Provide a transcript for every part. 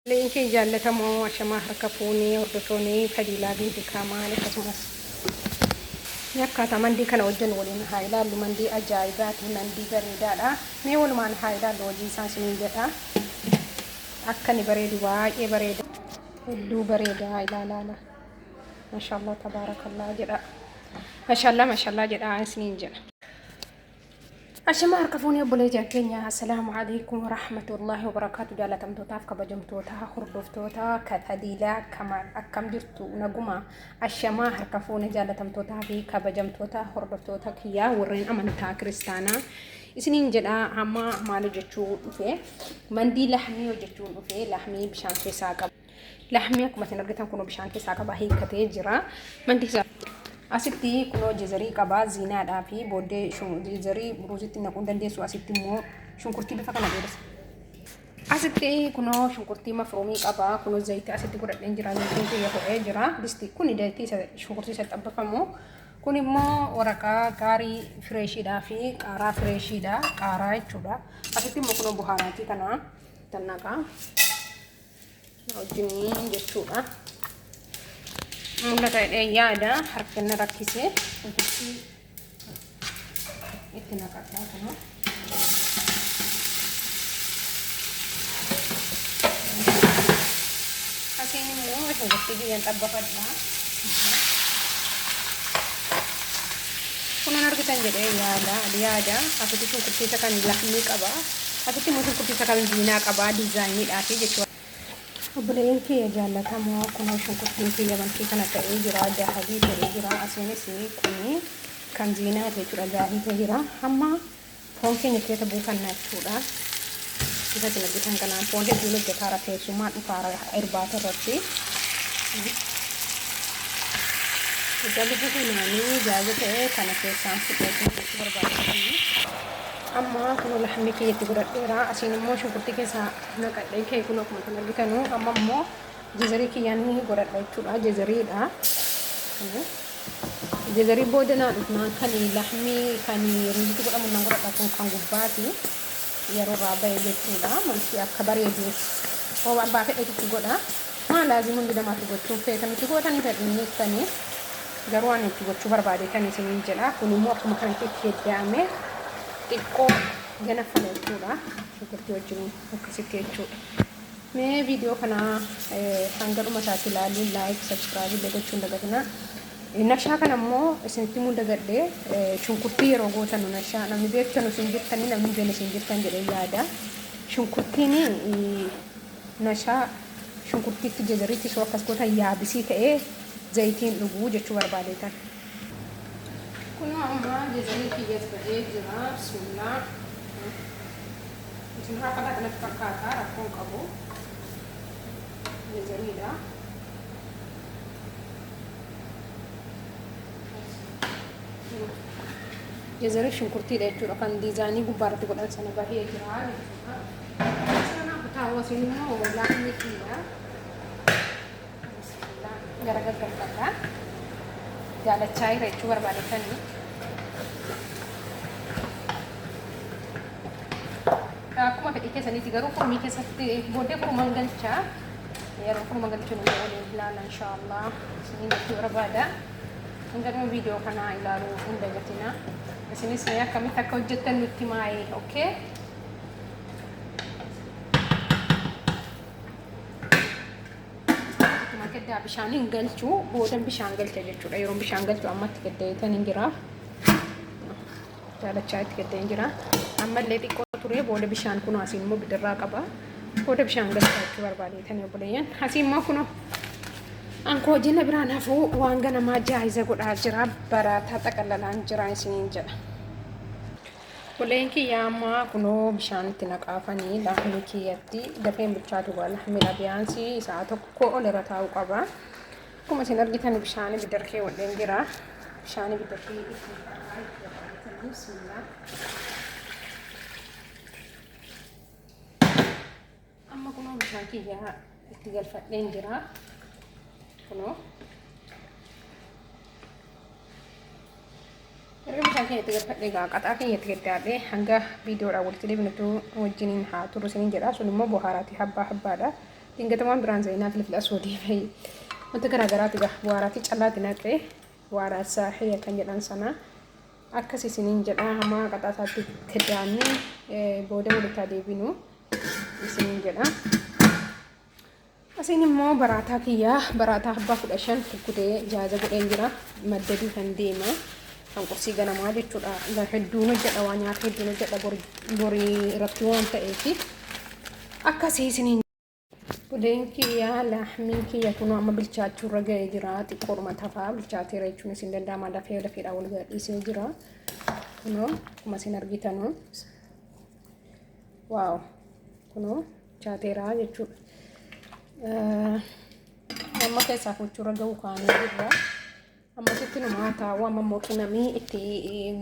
Leeyiin kee jaallatamoo ashamaa harka fuunee hordotoonii fadiilaa binti kaamaal akkasumas mee akkaataa mandii kana hojjannu waliin haa ilaallu mandii ajaa'ibaati mandii bareedaadha mee walumaan haa ilaallu hojii isaa isiniin jedha akka ni bareedu baay'ee bareeda hedduu bareedaa ilaalaala mashaallaa tabaarakallaa jedha mashaallaa mashaallaa jedha isiniin jedha Ashamaa harka fuunee obboleetiin keenya assalaamu alaikum warahmatullahi wabarakaatu jaalatamtootaaf kabajamtootaa hordoftoota kataliilaa kamaal akkam jirtu naguma ashamaa harka fuunee jaalatamtootaa fi kabajamtoota hordoftoota kiyyaa warreen amantaa kiristaanaa isiniin jedha amma maal hojjechuu dhufe mandii lahmii hojjechuun dhufe lahmii bishaan keessaa qabu. Laahmni akkuma isin argitan kunoo bishaan keessaa qaba hiikkatee jira. Mandiisa asitti kunoo jezarii qaba ziinaadhaa fi booddee jezarii ruuzitti naquu hin dandeessu asitti immoo shunkurtii bifa kana dheeressa. Asitti kunoo shunkurtii mafruumii qaba kunoo zayitii asitti godhadheen jira zaytiin kiyya ho'ee jira disti kun zayitii shunkurtii isa xabbafamu kun immoo waraqaa gaarii fireeshiidhaa fi qaaraa fireeshiidhaa qaaraa jechuudha asitti immoo kunoo buhaaraatii kana tannaqaa. wajjiniin jechuudha. Mul'ata hidhee yaada harka na rakkisee ofitti itti naqadhaa kana. Asiin immoo shunkurtii biyyan xabbafadhaa. Kun hin argitan jedhee yaada yaada asitti shunkurtii isa kan laxmii qaba asitti immoo shunkurtii isa kan ziinaa qaba diizaayiniidhaafi jechuudha. Obboleeyyan kiyya jaallatamoo kunoo shunkurtiin kiyya malkii kana ta'ee jira dahabii ta'ee jira asiinis kuni kan ziinaati jechuudha daahii ta'ee jira hamma Foon keenya keessa buufanna jechuudha. Isa dinagdee dhangala'aan foon hedduun hojjetaara keessumaa dhukaara irbaata irratti. Egaa bifa kanaanii jaaza ta'e kana keessaan fudhee kan jechuu barbaadamanii. Amma kun lahamni kiyya itti godhadheera. Asiin immoo shunkurtii keessaa naqadhee kee kun akkuma isin argitanu amma immoo Jezarii kiyyaa ni godhadha jechuudha. Jezariidha. Jezarii booda naa dhufnaan kan lahmii kan ruuzitti godhamu nan godhadha kun kan gubbaati. Yeroo irraa ba'e jechuudha. Malfi akka bareeduuf hoo abbaa fedhetu itti godha. Maa laazim hundi namaatti gochuun feetan itti gootanii fedhiin jettanii garuu ani itti gochuu barbaade tan isiniin jedha. Kun immoo akkuma kanatti itti heddaa'ame xiqqoo ganaffala jechuudha. Shunkurtii wajjin akkasitti jechuudha. Mee viidiyoo kana hanga dhuma isaatti ilaalii laayik sabskiraayib illee gochuun dagatinaa. Nashaa kana immoo isinitti himuu dagadhe shunkurtii yeroo gootanu nashaa namni beektanu isin jirtanii namni hin beekne isin jirtan jedhee yaada. Shunkurtiin nashaa shunkurtiitti jazariitti soo akkas gootan yaabisii ta'ee zayitiin dhuguu jechuu barbaadeetan. Kunoo amma jazanii kiyyas ba'ee jira bismillah isin haa fadhaa kanatti fakkaataa rakkoon qabu jazaniidha jazanii shunkurtiidha jechuudha kan diizaanii gubbaa irratti godhan sana bahee jira jechuudha sana kutaawwa isin immoo laafni kiyya Bismillah gara gaggalfadha. Jaalachaa jira jechuu barbaadetanii. Akkuma fedhii keessaniiti garuu furmii keessatti booddee furman galchaa. Yeroo furman galchuun illee waliin ilaalla inshaallah. Isiniin jechuu barbaada. Hanga dhuma viidiyoo kanaa ilaaluu hin dagatina. Isinis mee akkamitti akka hojjettan nutti maayee, okay? Akkuma gaddaa bishaan hin galchu boodan bishaan galcha jechuudha. Yeroon bishaan galchu ammatti gaddeetan hin jira. Daalachaa itti gaddeen jira. Ammallee xiqqoo turee booda bishaan kun asiin immoo bidirraa qaba. Booda bishaan galcha jechuu barbaadeetan obboleeyyan. Asiin immoo kunoo ankoo jina biraan hafuu waan ganamaa jaayiza godhaa jira. Baraataa xaqallalaan jira isiniin jedha. Buleen kiyyaa amma kunoo bishaan itti naqaafani laafni kiyyatti dafeen bilchaatu wala mila biyaansii isaa tokko ol irra taa'uu qaba. Akkuma isin argitan bishaan ibiddarra keewwadheen jira. Bishaan ibiddarra itti qarqara itti gargaaratanii bismillah. Amma kunoo bishaan kiyyaa itti galfadheen jira. Kunoo. Erga bishaan kiyya itti galfadhee egaa qaxaa kiyya itti gaddaadhee hanga viidiyoodhaan walitti deebinutu wajjiniin haa turu isiniin jedha. Sun immoo bohaaraati habbaa habbaadha. Dingata waan biraan zayinaa filfila soodii fi wanta garaagaraati egaa bohaaraati callaati naqee waaraa saaxiya kan jedhan sanaa. Akkas isiniin jedhaa hamaa qaxaasaatti itti daannee booda walitti adeebinu isiniin jedhaa. Asiin immoo baraataa kiyyaa baraataa abbaa kudha shan kukkutee jaaza godheen jira maddaduu kan deema kan qursii ganamaa jechuudha gar hedduun hojjedha waa nyaata hedduun hojjedha borii irratti waan ta'eef akkasii isiniin Buddeen kiyya laahmiin kiyya kunoo amma bilchaachuu irra ga'ee jira. Xiqqoodhuma tafaa bilchaateera jechuun isin danda'ama dafee lafeedhaan wal gadhiisee jira. Kunoo akkuma isin argitanu waaw kunoo bilchaateera jechuudha. Amma keessaa fuuchuu irra ga'u kaanee jirra. Ammasitti nu maataa waan ammoo qimamii itti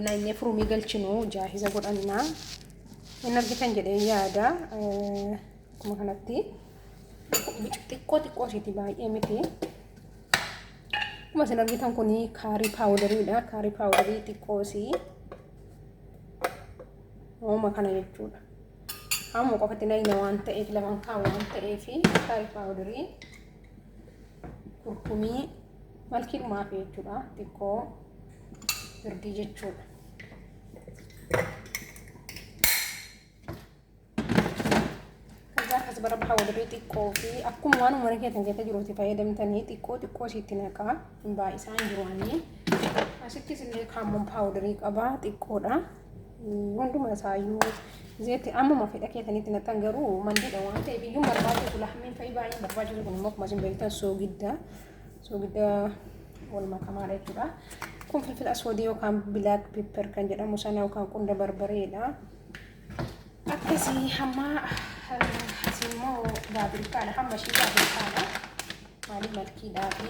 nanyee furumii galchinu jaahiza godhannaa. Hin argitan jedhee yaada akkuma kanatti xiqqoo xiqqoo isheeti baay'ee miti. Akkuma isin argitan kun kaarii paawudariidha. Kaarii paawudarii xiqqoo isii hooma kana jechuudha. Amma qofatti nayina waan ta'eef lamaan kaa waan ta'eef kaarii paawudarii kurkumii. Malkiin maafii jechuudha. Xiqqoo birdii jechuudha. Kaza akkas bara baha walirrii xiqqoo fi akkuma waan ummanni keessan keessa jiruuti fayyadamtanii xiqqoo xiqqoo isiitti naqaa. Baay'isaan jiru ani. Asittis illee kaammoon paawudarii qabaa xiqqoodha. Hunduma isaayyuu zeetti ammuma fedha keessanitti naqxan garuu mandiidha waan ta'e biyyuun barbaaduu tula hammiin fa'i baay'een barbaaduu kun immoo akkuma isin beektan soogidda soogidda wal makamaadha jechuudha. Kun filfila aswadii yookaan bilaak pepper kan jedhamu sana yookaan qunda barbareedha. Akkasii hamma asii immoo baabirikaadha hamma ishii baabirikaadha maaliif malkiidhaa fi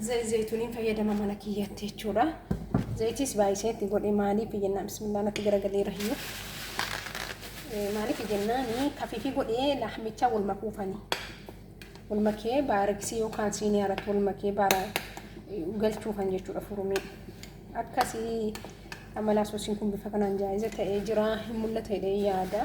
Zayit zayituuniin fayyadama mana kiyyatti jechuudha. Zayitiis baay'isee itti godhe maaliif jennaan bismillah natti garagalee rahiyyuu. Maaliif jennaan kafiifii godhee laahmicha wal makuufani. Wal makee baariksii yookaan siinii irratti wal makee baara galchuufan jechuudha furumii. Akkasii amalaa soosiin kun bifa kanaan jaa'iza ta'ee jira hin mul'ata jedhee yaada.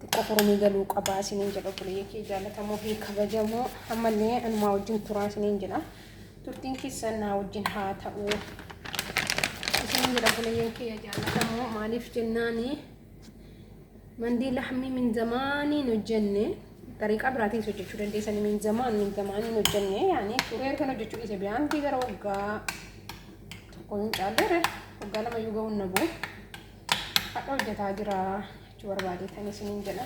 xiqqoo turanii galuu qabaa isiniin jedha obboleeyya kee jaalatamoo fi kabajamoo ammallee anumaa wajjin turaa isiniin jedha turtiin keessan naa wajjin haa ta'u isiniin jedha obboleeyya kee jaalatamoo maaliif jennaani mandii laxmii min zamaaniin hojjenne xariiqaa biraatiis hojjechuu dandeessan min zamaan min zamaaniin hojjenne yaani turee ergan hojjechuu dhiise biyaantii gara waggaa tokko hin caalleere waggaa lama yoo ga'uun na bu'u hadha hojjetaa jira Jechu barbaadee kan isiniin jedha.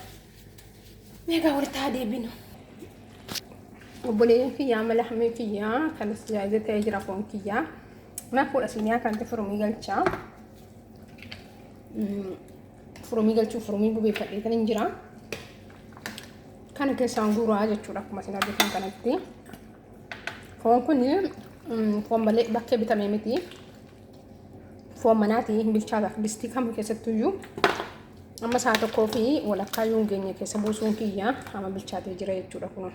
Meegaa walitti haa deebinu. Obboleen kiyyaa mala hameen kiyyaa kan istijaajii ta'ee jira foon kiyyaa. Naaf fuudha siniyaa kan ta'e furumii galchaa. Furumii galchuu furumii bubeeffadhee kan hin jira. Kana keessaan guuraa jechuudha akkuma isin argitan kanatti. Foon kun foon malee bakkee bitamee miti. Foon manaati hin bilchaata distii kam keessattuu iyyuu amma sa'a tokkoo fi walakkaa yoo hin geenye keessa buusuun kiyya amma bilchaatee jira jechuudha kun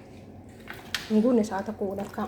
hin guunne sa'a tokko walakkaa.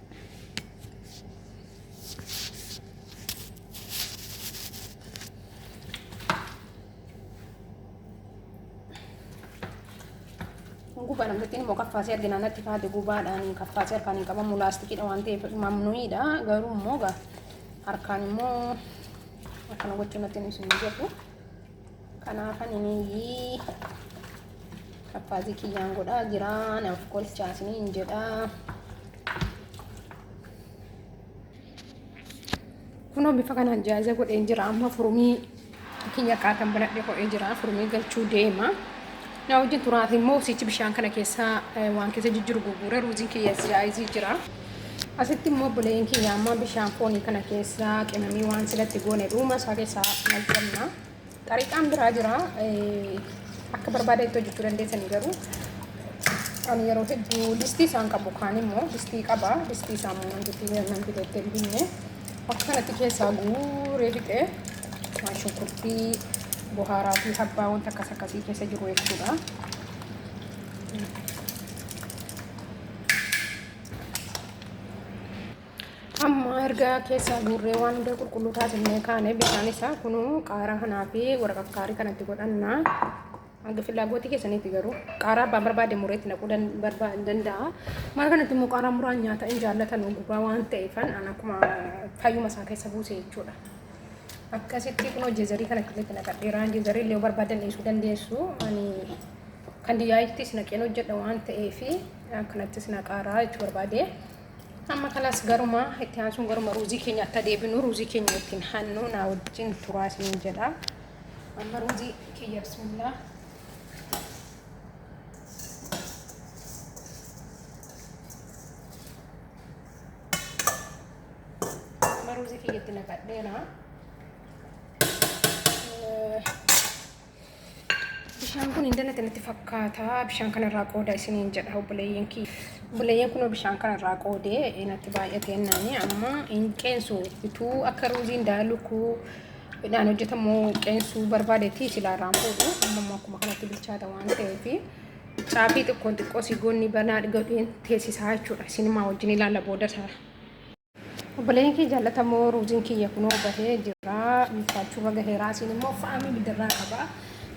gubaa namtittiin immoo kaffaasee argina natti faate gubaadhaan hin kaffaasee harkaan hin qabamu laastikiidha waan ta'eef mamnuidha garuu immoo gaa harkaan immoo akkana gochuu natti hin isin jedhu. Kanaafan inii kappaazii kiyyaan godhaa jira naaf kolchaa isiniin jedha. Kunoo bifa kanaan jaaza godhee jira amma furmii kiyya kaatan banadhe godhee jira furmii galchuu deema. Na wajjin turaati immoo sichi bishaan kana keessa waan keessa jijjiru gurgure ruuziin kiyya jaayizii jira. Asitti immoo obboleeyyan kiyya amma bishaan foonii kana keessa qimamii waan silatti goone dhuuma isaa keessaa naqanna. Xariqaan biraa jira. Akka barbaada itti hojjechuu dandeessanii garuu ani yeroo hedduu distii isaan qabu kaan immoo distii qaba. Distii isaa immoo nan fidee nan fidee itti hin binne. Akka kanatti keessaa guuree fixee waan shunkurtii bohaaraa fi habbaa wanta akkas akkasii keessa jiru jechuudha. amma erga keessaa guurree waan hunda qulqulluu taasifnee kaane bishaan isaa kunuu qaaraa kanaa fi waraqakkaarii kanatti godhanna hanga filaagootii keessaniitti garuu qaaraa abbaan barbaade mureetti naquu danda'a maal kanatti immoo qaaraa muraan nyaata hin jaallatan gubaa waan ta'eefan an akkuma fayyuma isaa keessa buuse jechuudha akkasitti kunoo jeezarii kanatti illee naqadheeraa jeezarii illee barbaadan dhiisuu dandeessu ani kan diyaayiittis naqeen hojjedha waan ta'eef kanattis naqaaraa jechuu barbaade. Amma kanas garuma itti aansuun garuma ruuzii keenya akka deebinu ruuzii keenya ittiin hannu naa wajjin turaa isiniin jedha. Amma ruuzii kiyya bismillah. Amma ruuzii kiyya itti naqadheera. Bishaan kun hin danate natti fakkaata. Bishaan kana irraa qooda isiniin jedha obboleeyyiin kiyya. Obboleeyyiin kun bishaan kana irraa qoodee natti baay'atee naani amma hin qeensu utuu akka ruuziin daalukuu midhaan hojjetamu qeensuu barbaadetti silaa irraan fuudhu amma immoo akkuma kanatti bilchaata waan ta'eef caafii xiqqoon xiqqoo sigoonni banaa gadheen teessisaa jechuudha. Isin maa wajjin ilaalla booda isaa. Obboleeyyan kee jaallatamoo ruuziin kiyya kunoo bahee jira bilchaachuurra gaheeraa isin immoo faamii bidirraa qaba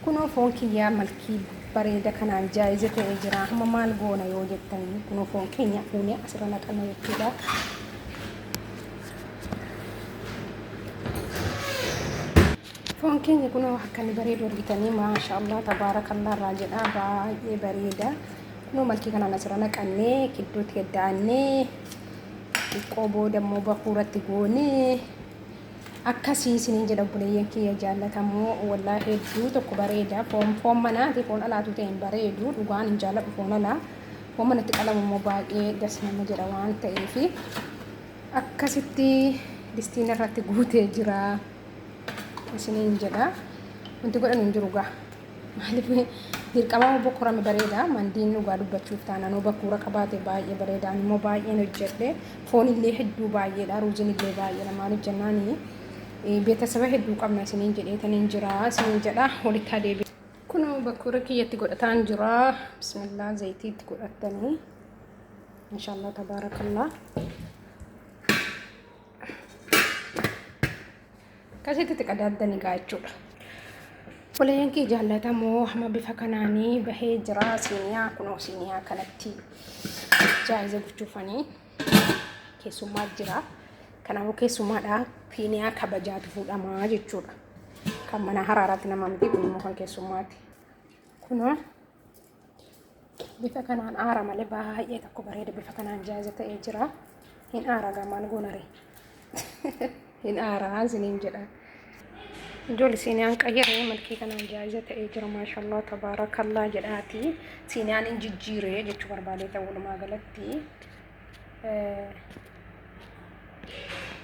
kunoo foon kiyyaa malkii bareeda kanaan jaayize ta'ee jira amma maal goona yoo jettan kunoo foon keenya fuunee asirra naqanna jechuudha. Foon keenya kunoo akka inni bareedu argitanii maashaallah tabaarakallaa irraa jedhaa baay'ee bareeda kunoo malkii kanaan asirra naqannee gidduutti gaddaannee xiqqoo booda immoo bakuuratti goonee akkasii isiniin jedha obboleeyyan kiyya jaallatamoo wallaa hedduu tokko bareeda foon foon manaa fi foon alaatu ta'e hin bareedu dhugaan hin jaalladhu foon alaa foon manatti qalamu immoo baay'ee das nama jedha waan ta'eef akkasitti distiin irratti guutee jira isiniin jedha wanti godhan hin jiru gaa. Maaliif dirqama obbo Korame bareeda mandiin dhugaa dubbachuuf taanaan obbo Kuura qabaate baay'ee bareeda ani immoo baay'een hojjedhe foon illee hedduu baay'eedha ruuziin illee baay'eedha maaliif jennaan beetasaba hedduu qabna isiniin jedhee taniin jira isiniin jedha walitti adeebe. Kun obbo Kuura kiyyatti godhataan jira bismillaa zayitii itti godhattanii inshaallaa tabaarakallaa. Akkasitti itti qadaaddani gaa jechuudha. Obboleeyyan kee jaallatamoo hama bifa kanaanii bahee jira siiniyaa kunoo siiniyaa kanatti jaayiza gochuufanii keessummaa jira. Kanaafuu keessummaadha siiniyaa kabajaatu fuudhamaa jechuudha. Kan mana haraaraatti nama miti kun immoo kan keessummaati. Kunoo bifa kanaan aara malee baay'ee tokko bareeda bifa kanaan jaaza ta'ee jira hin aara gamaan goonare hin aaraa isiniin jedha ijoolli siiniyaan qayyaree malkii kanaan jaaza ta'ee jira maashallaa tabaarakallaa jedhaati siiniyaan hin jijjiiree jechuu barbaadee ta'uudhumaa galatti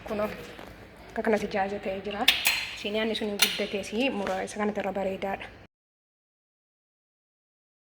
kunoo akka kanatti jaaza ta'ee jira. Siiniyaanni sun guddatee si mura isa kanatti irra bareedaadha.